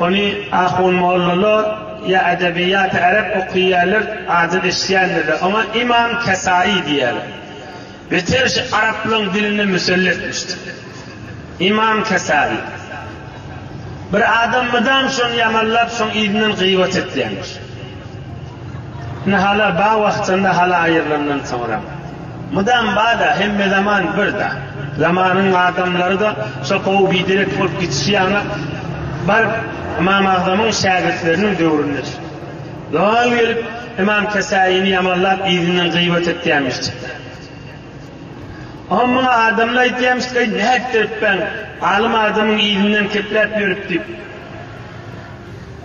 Ony ahunmollalar ýa edebiýaty ärep okyýärler, adyny eşidýändirler. Oňa Imam Kesaýy diýýärler. Beter şu araplaryň diline müselle etmişdir. Imam Kesaýy. Bir adam mydam şony ýamanlap, şoň yzyndan gybat edýärmiş. Indi hala ba wagtynda hala aýrylandan soňram. Mydam bada, hemme zaman birda. Zamanyň adamlary-da şo gowy biderek bolup gitişi ýaly baryp Ymam Agzamyň şägirtleriniň döwründe çykdy. Lal gelip Ymam Kesaýyny ýamanlap yzyndan gyýbat etýämişdikler. Oňa muňa adamlar aýdýamyşdyk, Aý, nätdiripbäň, alym adamyň yzyndan kepläp ýörüp diýip.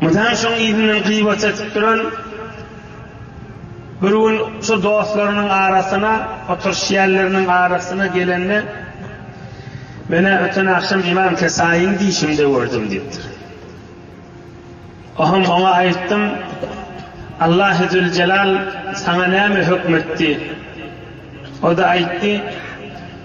Mutan şoň yzyndan gybat edip duran bir gün şu dostlarynyň arasyna, oturşýanlarynyň arasyna gelende, Menä öten agşam Imam Kesaýyň dişimde gördüm diýipdir. Oham oňa aýtdym, Allahy Züljelal saňa näme hökm etdi? O-da aýtdy,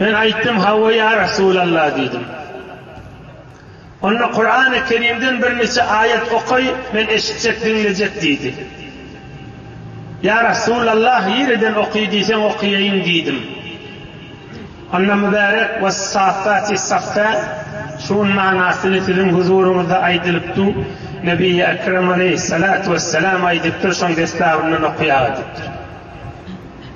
Men aýtdym, Hawa, ýa Resulalla diýdim. Onda Kurany Kerimden birniçe aýat okaý, men eşitjek, diňlejek diýdi. Ýa Resulallah, ýereden oky diýseň okaýaýyn diýdim. Onda Mübärek, Wessaffati saffa, şuň manasyny siziň huzuryňyzda aýdylypdu, Nebiýi Ekrem aleýhissalatu wessalam aýdypdyr, şoň desgabyndan okaýaga diýipdir.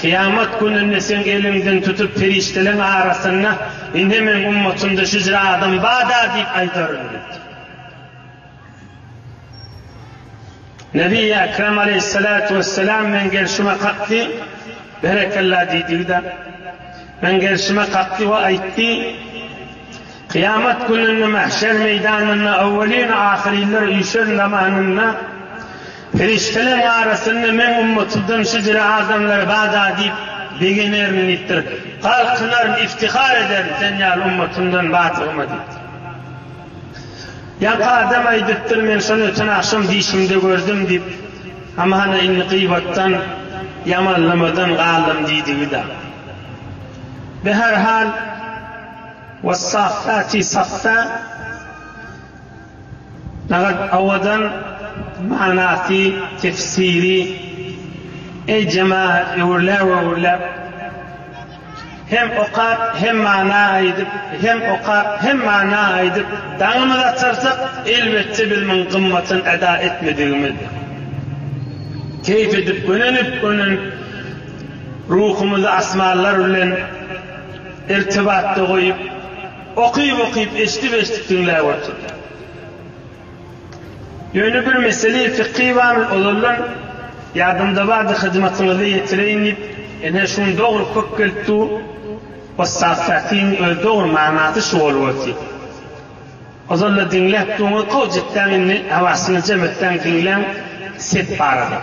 Kyýamat gününde seň eliňden tutup perişdeleriň arasynda, Ine, meniň ummatymda şu jür adam bar-da diýip aýdaryn diýipdir. Nebi-i Ekrem aleýhissalatu wessalam meň gerşime kakdy, Berekella diýdigi-de, meň gerşime kakdy we aýtdy, Kyýamat gününde mähşer meýdanynda owelin-u ahyrynlar üýşen zamanynda, Perişdeleriň arasynda Meň ummatymdan şu jüre adamlar bada diýip begenerin diýipdir. Galkynaryn, iftihar ederin Sen ýaly ummatymdan badygyma diýipdir. Ýaňky adam aýdypdyr, Men şony öten agşam dişimde gördüm diýip, Ama hana indi gyýbatdan, ýamanlamadan galdym diýdigi-da. Bi her hal, Wessaffati saffa. Daňat Awadan manasy tefsiri Eý jemagat öwürläp öwürläp Hem okap hem mana aýdyp hem okap hem mana aýdyp daňymyzy atarsak elbetde biz muň gymmatyn eda etmedigimiz keýp edip gönenip gönenip ruhumyzy asmanlar bilen irtibatda goýup Okyp-okyp, eşdip-eşdip diňläp oturdym. Ýöne bir mesele, fiky bary ozaldan ýadymda bardy, hyzmatyňyza ýetireýin diýip, ine, şu gün dogry köp gelip dur. Ussat Sähtiň özi dogry manasy şu bolup otyr. Ozal-da diňläp durun, gowy jetdäň indi, hawasyny jem etdäň, diňläň, sep barada.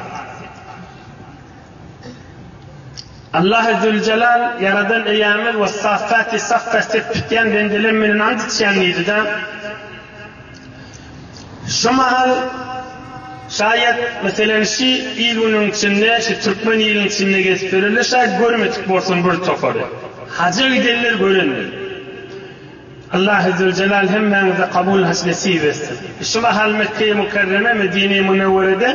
Allahy Züljelal, Ýaradan Eýämiz Wessaffaty saffa sep tutýan bendelem menden and içýän diýdi-de, şu mahal, şaýat, meselem, şi il-günüň içinde, şi türkmen iliniň içinde gezip ýörerler, şaýat görmedik bolsam bir topary. Haja giderler, görenler. Allah Azzewejelal hemmäňize kabul hac nesip etsin. Şu mahal Mekkeýi Mukerreme, Medineýi Munewwerede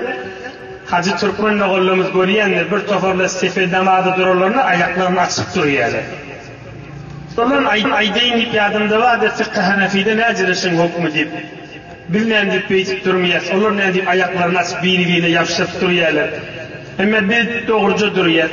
hajy türkmen mogallarymyz görýändir, bir toparlar sefe namaza durarlarynda aýaklaryny açyp durýarlar. Şolaryn aýdaýyn diýip ýadymda bardy, Fiky Hanefide näcere şuň hukmy diýip. Biz nändip beýdip durmyas, olar nädip aýaklaryny açyp biri-birine ýapyşyp durýarlar. Emma biz dogruja durýas.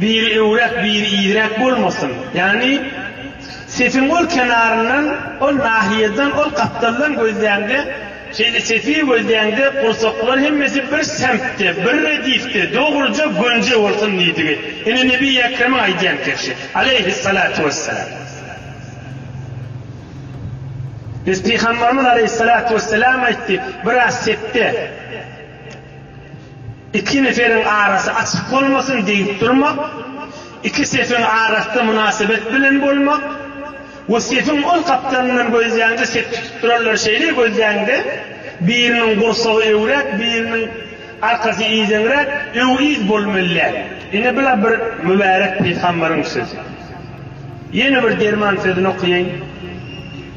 Biri öwräp, biri iýräp bolmasyn. Ýagny, sefiň ol kenaryndan, ol nahiýeden, ol gapdaldan gözläňde, şeýle sefi gözläňde, gursaklar hemmesi bir semtde, bir redifde, dogruja gönje bolsun diýdigi. Ine, Nebi Ekremiň aýdýan kerşi. Aleýhissalatu wessalam. Biz Pygambarymyz Aleýhissalatu wessalam aýtdy, biraz sepde. Iki neferiň arasy açyk bolmasyn diýip durmak, iki sefiň arasy-da mynasybet bilen bolmak we sefiň ol gapdalyndan gözläňde sep tutup duranlar şeýle gözläňde, biriniň gursagy öwräk, biriniň arkasy yzeňräk, öw-yz bolmellär. Ine bula bir mübärek pygambaryň sözi. Ýene bir derman sözüni okaýaýyn.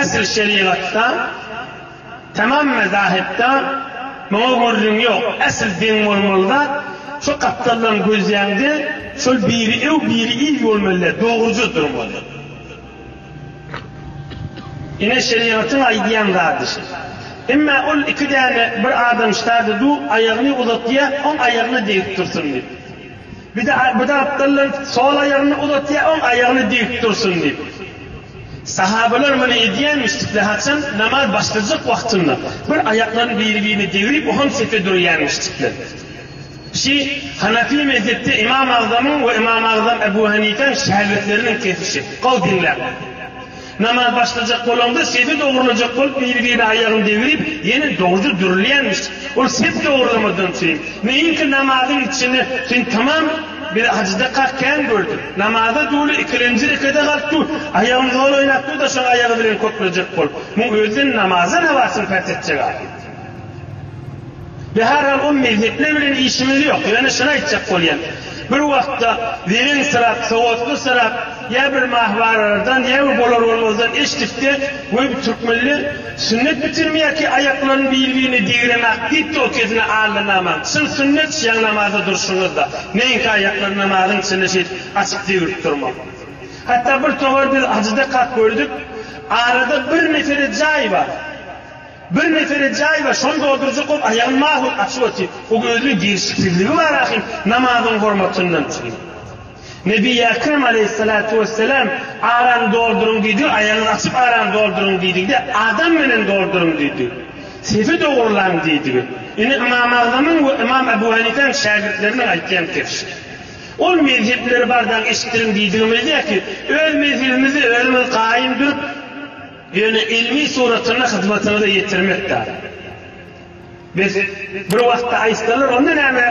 Esl şerigatda, tamam mezahipda muňa gürrüň ýok. Esl deň bolmaly zat, şu gapdaldan gözläňde, şol biri öw, biri il bolmalydy, dogruja durmaly. Ine, şerigatyň aýdýan zady şi. Emma ol iki däne bir adam ştady du, aýagyny uzatýa, oň aýagyna degip dursun diýip. Bir de bir tarapdandan sol aýagyny uzatýar, oň aýagyny dik dursun diýip. Sahabalar muny edýänmişdikler, haçan namaz başlajak wagtynda bir aýaklaryny biri-birine degrip, oham sepe durýanmişdikler. Şi, Hanafi mezhepde Ymam Agzamyň we Ymam Agzam Ebu Hanifäň şägirtleriniň kesişi. Gowy diňläň. Namaz başlajak bolaňda sepi dogrulajak bolup biri-birine aýagyny degrip ýene dogruja dürülýänmiş. Ol sep dogrulamadan syn. Meýinki namazyň içini syn tamam bir ajydakak kän gördüm. Namaza duly ikilenji rekede galyp dur, aýagyny zol oýnap dur-da şoň aýagy bilen köklejek bol. Muň özden namaza nabasyny päs etjek ahyry. Ýa herhal ol mehnetler bilen işimiz ýok, ýöne şuny aýtjak bolýan, bir wagtda wiriňsirap, sowatlysyrak ýa bir mahwaralardan ýa bir bolar-bolmazdan eşdikde, Weý bu türkmenler sünnet bitirmeýärki aýaklaryny bir-birine digiremäk diýipdi ol kesne Alla naman, çyn sünnet şiaň namazda durşuňyzda, meňki aýaklary namazyň içinde şeýdip açyp digrip durmak. Hatda bir towar biz hajyda kak gördük, arada bir mesele jaý bar. Bir neferä jaý bar, şony doldurjak bolup, aýagym mahut açyk otyr. Bu gözli girişiksizligi bar ahyry, namazyň hormatyndan üçin. Nebi Ekrem aleýhissalatu wessalam, Arany dolduryň diýdigi, aýagyňyzy açyp arany dolduryň diýdigi-de, adam menen dolduryň diýdigi. Sefi dogurlaň diýdigi. Ine Ymam Agzamyň we Ymam Ebu Hanifäň şägirtleriniň aýtýan pikiri. Ol mezhepleri bardagyň eşitdiriň diýdigimizde ki, öz mezhebimizi özümiz gaýym durup, Ýöne ilmi suratynda hyzmatyňyza ýetirmek bar. Biz bir wagtda aýtsalar onda näme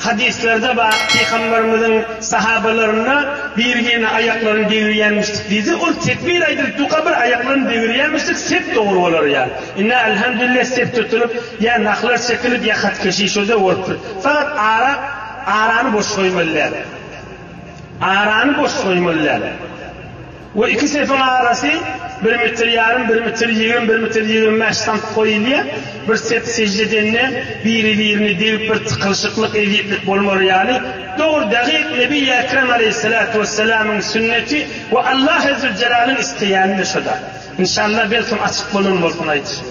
hadyslarda bar pygamberimiziň sahabalaryna birgine aýaklaryny degirýämişdik diýdi ol tekbir aýdylyp duka bir aýaklaryny degirýämişdik sep dogry bolar ýa inna alhamdulillah sep tutulyp ýa nahlar çekilip ýa hatkeşi şode bolupdyr fakat ara arany boş goýmaly däl arany boş goýmaly däl. Bu iki sepiň arasy bir metr ýarym, bir metr ýigrimi, bir metr ýigrimi bäş sant goýulýar. Bir sep sejde edende biri-birini degip bir tykylyşyklyk, ezýetlik bolmaly ýaly. Dogry, dagyk Nebi Ekrem aleýhissalatu wessalamyň sünneti we Allah Ezzüljelalyň isleýäni-de şo-da. Inşallah, belkem açyk bolan bolsun aýdyşym.